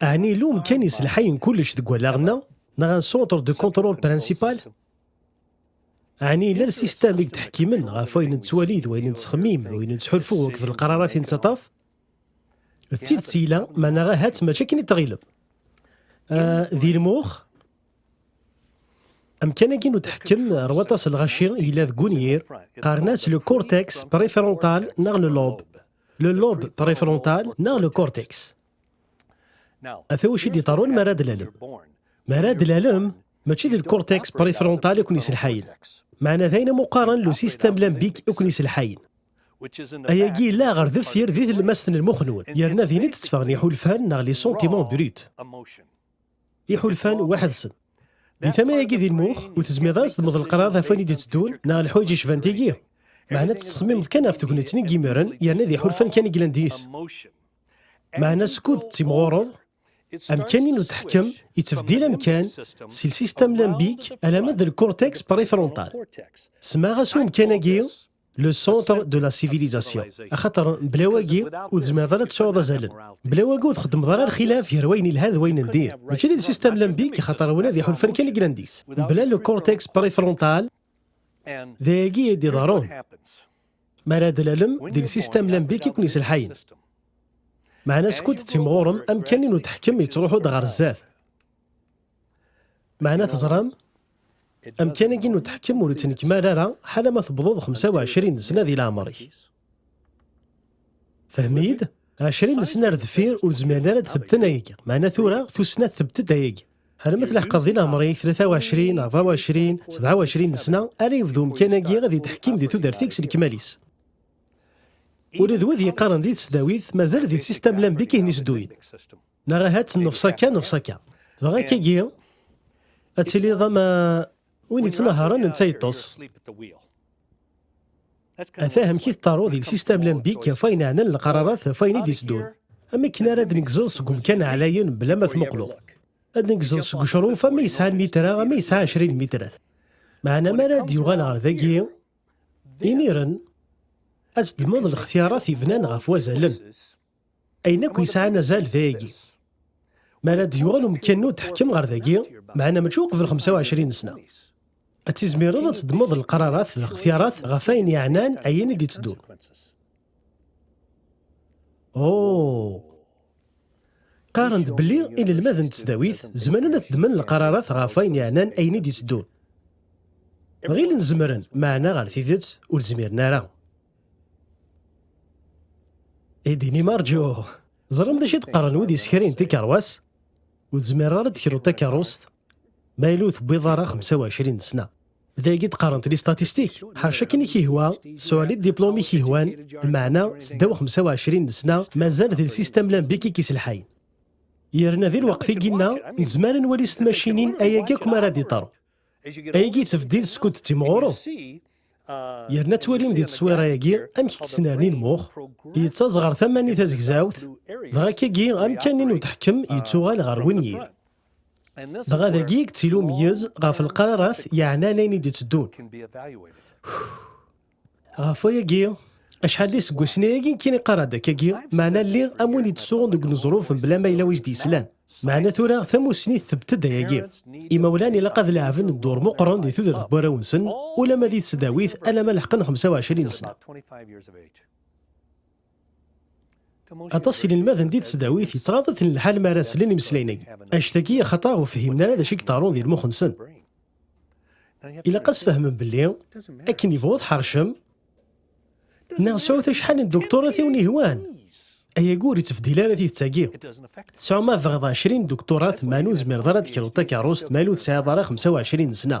Ɛni lum kan iselḥayen kullec deg wallaɣ-nneɣ, neɣ un centre de contrôle principal? Ɛni yella lsistam i yettḥekkimen ɣef wayen nettwali d wayen nettxemmim d wayen nettḥulfu akked lqrarat i nettaṭṭaf? D tidet yella, maneɣ ahat mačči akken i tɣilem. Euh, di lmux, amkan-agi n uteḥkem ar waṭas n lɣaci yella deg unyir, qqaren-as le cortex préfrontal neɣ le lobe. Le lobe préfrontal neɣ le cortex. Ata wacu i d-iḍerrun mi ara d-lalem. Mi ara d-lalem, mačči d lkurteks prefrontal i ken-iselḥayen. Meɛna d ayen am uqaren lu sistem lambik i ken-iselḥayen. Ayagi yella ɣer deffir di tlemmast n lmux-nwen, yerna din i d-tteffɣen iḥulfan neɣ les sentiments bruts. Iḥulfan weḥd-sen. Di tama-agi di lmux, ur tezmireḍ ara ad teddmeḍ leqrar ɣef wayen i d-itteddun neɣ leḥwayeǧ yecban tigi. Meɛna tettxemmimeḍ kan ɣef tegneţ-nni n yimiren, yerna d iḥulfan kan i yellan deg-s. Meɛna skud tettimɣureḍ, amkan-nni n teḥkem yettbdil amkan si lsistem limbik alamma d lkortex préfrontal. Smaɣ-as i umkan-agi le centre de la civilisation. Axaṭer bla wagi ur tezmireḍ ara ad tesɛuḍ azalen. Bla wagi ur txeddmeḍ ara lxilaf gar wayen yelhan d wayen n dir. Mačči d lsistem limbik axaṭer win ad iḥulfan kan i yellan-is. Bla le cortex préfrontal d ayagi i d-iḍerrun. Mi ara d-tlalem, d lsistem lambik i ken-iselḥayen. Meɛna skud tettimɣurem, amkan-nni n uteḥkem yettruḥu-d ɣer sdat. Meɛna teẓram, amkan-agi n uteḥkem ur ittnekmal ara ḥala ma tewwḍeḍ xemsa u ɛecrin n sna di leɛmer-ik. Fhem-iyi-d, ɛecrin n sna ar deffir ur zmiren ara ad tbedden ayagi, meɛna tura tussna tbedd-d ayagi. Alma tleḥqeḍ di leɛmer-ik 23 neɣ 24, 27 n sna, ara yebdu umkan-agi ad yettḥekkim di tudert-ik s lekmal-is. Ula d wid yeqqaren di tesdawit mazal di sistam lambik i ten-isdduyen. Neɣ ahat nefs akka nefs akka. Dɣa akkagi ad tiliḍ ama. Win yettnaharen netta yeṭṭes. Ata amek i tettaruḍ il sistem lambik ɣef wayen ɛnan lqararat ɣef wayen i d-yettdun. Am akken ara d-negzeḍ seg umkan ɛlayen bla ma tmuqleḍ. Ad negzeḍ seg ucruf ama yesɛa lmitra ama yesɛa ɛecrin lmitrat. Meɛna mi ara d-yuɣal ɣer dagi, imiren ad teddmeḍ lextiyarat yebnan ɣef wazalen. Ayen akk yesɛan azal d ayagi. Mi ara d-yuɣal umekkan ur d-teḥkem ɣer dagi, meɛna mačči uqbel 25 sna. Ad tizmireḍ ad teddmeḍ lqrarat d lxetyarat ɣef ayen yeɛnan ayen i d-itteddun. Oh! Qqaren-d belli inelmaden n tesdawit zemren ad ddmen lqrarat ɣef ayen yeɛnan ayen i d-itteddun. Ɣilen zemren, meɛna ɣer tidet ur zmiren ara. I d-inim rǧu. Ẓṛam d acu i d-qqaren wid yessekrin tikeṛwas? Ur tezmireḍ ara ad d-tekruḍ takeṛṛust ma yella ur tewwiḍ ara xemsa u ɛecrin n ssna. D ayagi i d-qqarent listatistik. Ḥaca akken i k-yehwa, suɛel i ddiplum i k-yehwan, lmeɛna seddaw xemsa u ɛecrin n ssna mazal d lsistem lambik i k-iselḥayen. Yerna di lweqt i ginna, nezmer ad nwali s tmacinin ayagi akk mi ara d-iṭṭer. Ayagi tebdid skud d-timɣureḍ. Yerna twalim di teswiṛa-agi amek k-ttnerni lmux, yettaẓ ɣer tama-nni tazegzawt, dɣa akkagi amkan-nni n udeḥkem yettuɣal ɣer wenyir. Dɣa dagi i yettili umeyyez ɣef lqararat yeɛnan ayen i d-itteddun. Ɣef wayagi, acḥal d iseggasen ayagi n kini qqareɣ-d akkagi, meɛna lliɣ am win yettsuɣun deg uneẓruf mebla ma yella wi s-d-yeslan. Meɛna tura tamussni tthebbet-d ayagi. Imawlan ilaq ad leɛben dduṛ meqqren di tudert n warraw-nsen, ulamma di tesdawit alamma leḥqen xemsa u ɛecrin sna. Aṭas n yinelmaden di tesdawit yettɣaḍ-iten lḥal mi ara slen imeslayen-agi, anect-agi axaṭer ur fhimen ara d acu i yeḍerrun di lmux-nsen. Ilaq ad sfehmen belli akken yebɣu tḥercem neɣ sɛut acḥal n ddukturat i wen-yehwan, ayagi ur yettbedil ara tidet-agi. Tesɛu ma tebɣiḍ ɛecrin ddukturat meɛna ur tezmireḍ ara ad tekruḍ takeṛṛust ma ur tesɛiḍ ara xemsa u ɛecrin n ssna.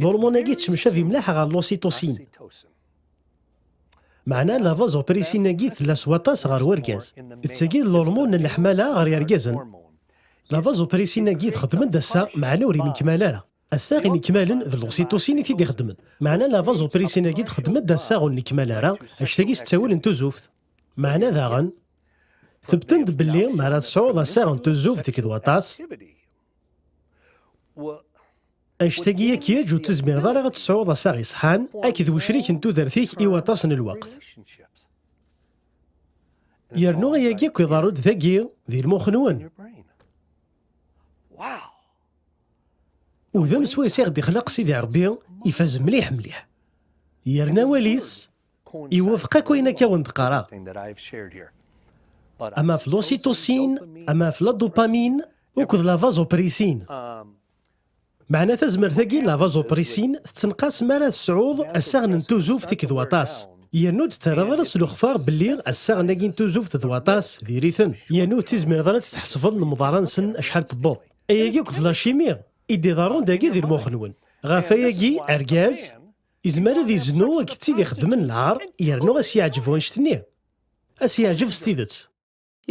L'hormone-agi ttemcabi mliḥ ɣer l'ocytocine. Meɛna la vasopressin-agi tella s waṭas ɣer urgaz. D tagi d l'hormone n leḥmala ɣer yergazen. La vasopressin-agi txeddem-d ass-a, meɛna ur inekmal ara. Assaɣ inekmalen d l'ocytocine i t-id-ixeddmen. Meɛna la vasopressin-agi txeddem-d assaɣ ur nekmal ara, anect-agi s ttawil n tuzuft. Meɛna daɣen, tebten-d belli mi ara tesɛuḍ assaɣ n tuzuft deg d waṭas, Anect-agi akyaǧ ur tezmireḍ ara ad tesɛuḍ asaɣ iṣeḥḥan akked wecrik n tudert-ik i waṭas n lweqt. Yernu ayagi akk iḍerru-d dagi, di lmux-nwen. Udem swayes i ɣ-d-ixleq Sidi Ṛebbi ifaz mliḥ mliḥ. Yerna awal-is Iwufeq akk ayen akka wen d-qqareɣ. Am ɣef l'ocytocine, am ɣef la dopamine, uked la vasopressin. Um, Meɛna tazmert-agi la vasopressin tettenqas mi ara tesɛuḍ assaɣen n tuzuft akked waṭas. Yernu ur d-ttarraḍ ara s lextar belli assaɣen-agi n tuzuft d waṭas diri-ten, yernu ur tizmireḍ ara ad tḥesbeḍ lemḍara-nsen acḥal tewweḍ. Ayagi akked lacimi i d-iḍerrun dagi di lmux-nwen. Ɣef wayagi, argaz, Izmer ad iznu akked tid ixeddmen lɛar yernu ad s-yeɛǧeb wanect-nni. Ad s-yeɛǧeb s tidet.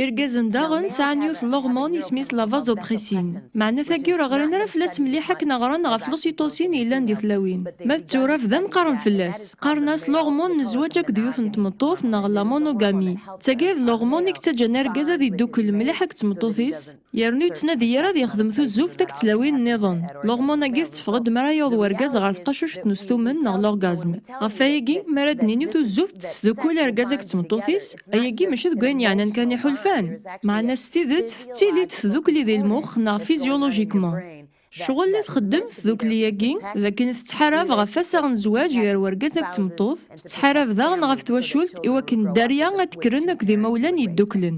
Irgazen daɣen sɛan yiwet n lormone isem-is la vasopressin. Meɛna tagi ur ɣrin ara fell-as mliḥ akken a ɣren ɣef l'ocytocine yellan di tlawin. Ma d tura bdan qqaren fell-as. Qqaren-as lormone n zzwaǧ akked yiwet n tmeṭṭut neɣ la monogamie. D tagi ay d lormone i yettaǧǧan argaz ad yeddukel mliḥ akked tmeṭṭut-is? yernu yettnadi yir ad yexdem tuzzuft akked tlawin nniḍen. Lormon-agi tetteffeɣ-d mi ara yaweḍ wergaz ɣer tqacuct n ustumen neɣ l'orgasme. Ɣef wayagi, mi ara d-nini tuzzuft tesdukkul argaz akked tmeṭṭut-is, ayagi mačči deg wayen yeɛnan kan i ḥulfan, meɛna s tidet tettili-d tdukkli di lmux neɣ physiologiquement. Ccɣel i txeddem tdukkli-agi, d akken tettḥarab ɣef wassaɣ n zzwaǧ gar wergaz akked tmeṭṭut, tettḥarab daɣen ɣef twacult i wakken dderya ad d-kkren akked imawlan yeddukklen.